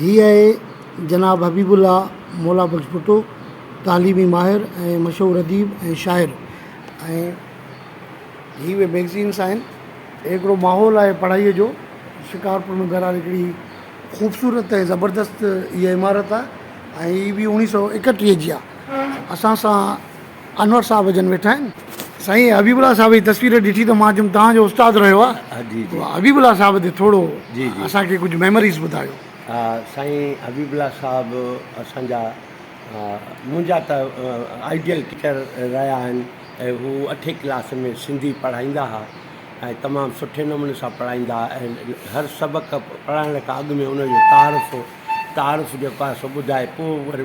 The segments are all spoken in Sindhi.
هي آهي جناب حبيب الله مولا بخش ڀٽو تعليمي ماهر ۽ مشهور اديب ۽ شاعر ۽ هي اهي ميگزينس آهن هڪڙو ماحول آهي پڙهائي جو شڪارپور ۾ بهرحال هڪڙي خوبصورت ۽ زبردست هي عمارت آهي ۽ هي بي اڻيهه سو اڪٽيهه جي آهي اسان سان انور صاحب جن ويٺا آهن. سائين حبيب الله صاحب جي تصوير ڏٺي ته مان چيم توهان جو استاد رهيو آ حبيب الله صاحب تي ٿورو اسان کي ڪجهه ميموريز ٻڌايو. سائين حبيب الله صاحب اسان جا منهنجا ته آئيڊيل ٽيچر رهيا آهن ۽ هو اٺين ڪلاس ۾ سنڌي پڙهائيندا ها ۽ تمام سٺي نموني سان پڙهائيندا ها ۽ هر سبق پڙهائڻ کان اڳ ۾ ان جو تعارف تعارف جيڪو آهي سو ٻڌائي پوء وري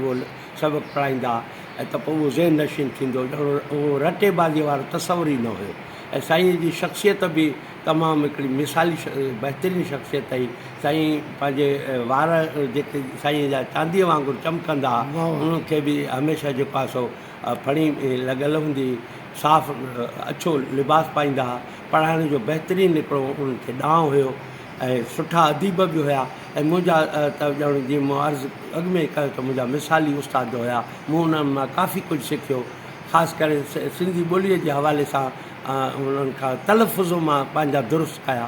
سبق پڙهائيندا ۽ ته پوء اهو ذهن نشين ٿيندو ڄڻ اهو رٽي بازيء وارو تصور ئي نه هيو ۽ سائينء جي شخصيت به تمام هڪڙي مثالي بهترين شخصيت هئي سائين پنهنجي وار جيڪي سائينء جا چانديء وانگر چمڪندا هئا انهن کي به هميشه جيڪو آهي سو ڦڻي لڳل هوندي هئي صاف اڇو لباس پائيندا هئا پڙهائڻ جو بهترين هڪڙو انهن کي ڏانء هيو ۽ سٺا اديب به هيا ۽ منهنجا ته ڄڻ جيئن مون عرض اڳ ۾ ئي ڪيو ته منهنجا مثالي استاد هيا، مون انهن مان ڪافي ڪجهه سکيو، خاص ڪري سنڌي ٻوليء جي حوالي سان انهن کان تلفظ مان پنهنجا درست ڪيا.